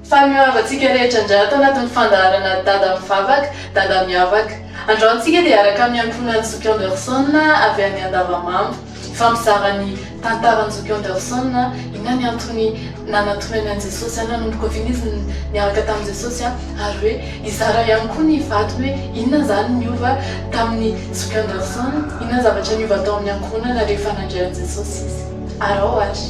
Fa ny mihoava antsika rehetra indray ato anatin'ny fandaharana Dada mivavaka, Dada miavaka. Androany tsika dia hiaraka amin'ny ankohonan'i Zoky Anderson avy any Andavamamba. Hifampizara ny tantaran'i Zoky Anderson, inona ny antony nanantonany an'i Jesosy, nanomboka oviana izy niaraka tamin'i Jesosy ary hoe hizara ihany koa ny vadiny hoe inona izany niova tamin'i Zoky Anderson, inona ny zavatra niova tao amin'ny ankohonana rehefa nandray an'i Jesosy izy. Araho ary.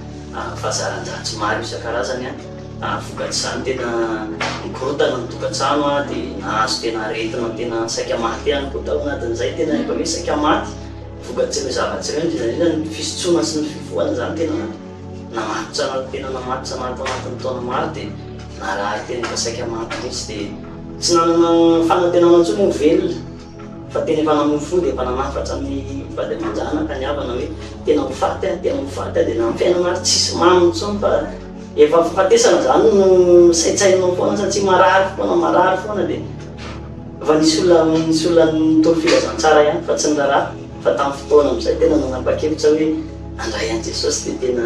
fahazaran-dratsy maro isan-karazany ary vokatr'izany tena nikorontana ny tokantrano dia nahazo tena aretina tena saika maty ihany koa tao anatin'izay, tena efa hoe saika maty vokatr'ireo zavatra ireo, indrindra indrindra ny fisotroana sy ny fifohana izany tena namatotra anaty tena namatotra anaty tao anatin'ny taona maro dia narary tena efa saika maty mihitsy dia tsy nanana fanantenana intsony ho velona. Fa tena efa namoy fo dia efa nanafatra ny vady aman-janaka ny havana hoe tena ho faty aho, tena ho faty aho dia na ny fiainana ary tsisy mamy intsony fa efa fahafatesana izany no saintsaininao foana satria marary foana, marary foana dia efa nisy olona, nisy olona nitory filazantsara ihany fa tsy ny raharaha fa tamin'ny fotoana amin'izay tena nanapa-kevitra hoe handray an'i Jesosy dia tena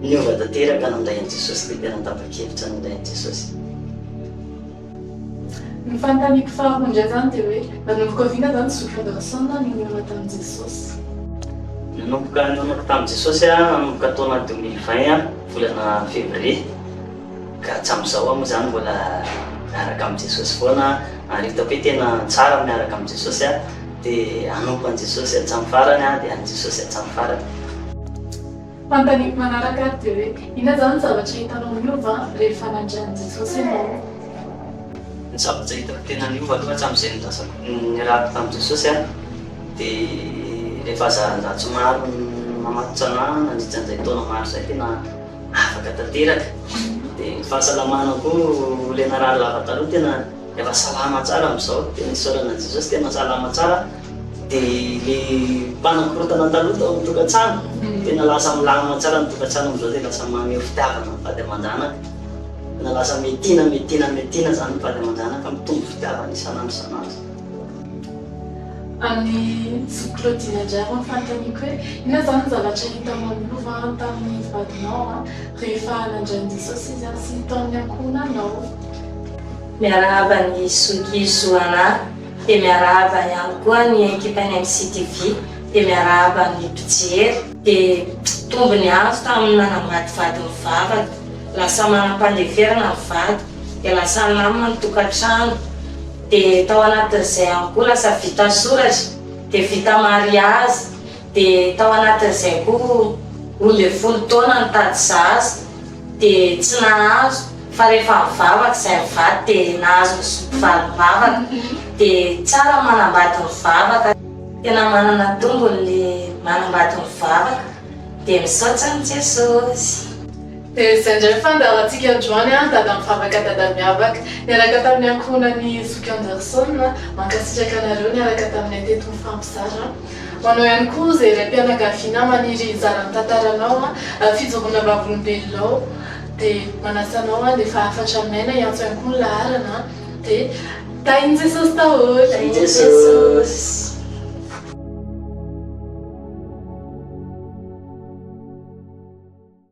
niova tanteraka nandray an'i Jesosy dia tena tapa-kevitra nandray an'i Jesosy. Ny fanontaniako faharoa indray izany dia hoe, nanomboka avy inona izany ny zoky Anderson nanomana tamin'i Jesosy? Nanomboka nanomako tamin'i Jesosy aho nanomboka taona deux mille vingt volana février, ka hatramin'izao aho moa izany mbola miaraka amin'i Jesosy foana ary hitako hoe tena tsara ny miaraka amin'i Jesosy aho dia hanompo an'i Jesosy hatramin'ny farany aho dia an'i Jesosy hatramin'ny farany. Fanontaniako manaraka ary dia hoe, inona izany ny zavatra hitanao niova rehefa nandre an'i Jesosy ianao? Ny zavatra hitako tena niova aloha hatramin'izay nilazako niarahako tamin'i Jesosy aho dia rehefa zarazaratsy maro namatotra anahy nandritra an'izay taona maro izay tena afaka tanteraka. Dia ny fahasalamana koa ilay narary lava taloha tena efa salama tsara amin'izao dia ny isaorana an'i Jesosy tena salama tsara aho. Dia ny mpanakorontana taloha tao amin'ny tokantrano, tena lasa milamina tsara ny tokantrano amin'izao dia lasa maneho fitiavana ny vady aman-janaka. Tena lasa metiana, metiana, metiana izany ny vady aman-janaka, mitombo fitiavana isan'andro isan'andro. Amin'i zoky Claudine indray aloha ny fanontaniako hoe inona izany ny zavatra hitanao amin'ny lova tamin'ny vadinao rehefa nandray an'i Jesosy izy sy ny taon'ny ankohonanao? Miarahaba an'i zoky Zoanah. Dia miarahaba ihany koa ny ekipan'ny MCTV, dia miarahaba ny mpijery. Dia tombony azo tamin'ny nanambady vady ny vavako, lasa manam-pandeferana ny vady, dia lasa nama ny tokantrano, dia tao anatin'izay ihany koa lasa vita soratra, dia vita mariazy, dia tao anatin'izay koa roa ambin'ny folo taona nitady zaza, dia tsy nahazo. Fa rehefa mivavaka izay mivady dia nahazo ny zoto valim-bavaka dia tsara ny manambady mivavaka. Tena manana tombony ny manambady mivavaka dia misaotra an'i Jesosy. Dia izay indray fandaharantsika androany an, Dada mivavaka Dada miavaka niaraka tamin'ny ankohonan'i Zoky Anderson, mankasitraka anareo niaraka taminay teto nifampizara. Ho anao ihany koa izay raim-pianakaviana maniry hizara ny tantaranao, fijoroana vavolombelonao Dia manasa anao aho, dia efa hafatra aminay na hiantso ihany koa ny laharana an! Dia tahin'i Jesosy daholo! Tahin'i Jesosy!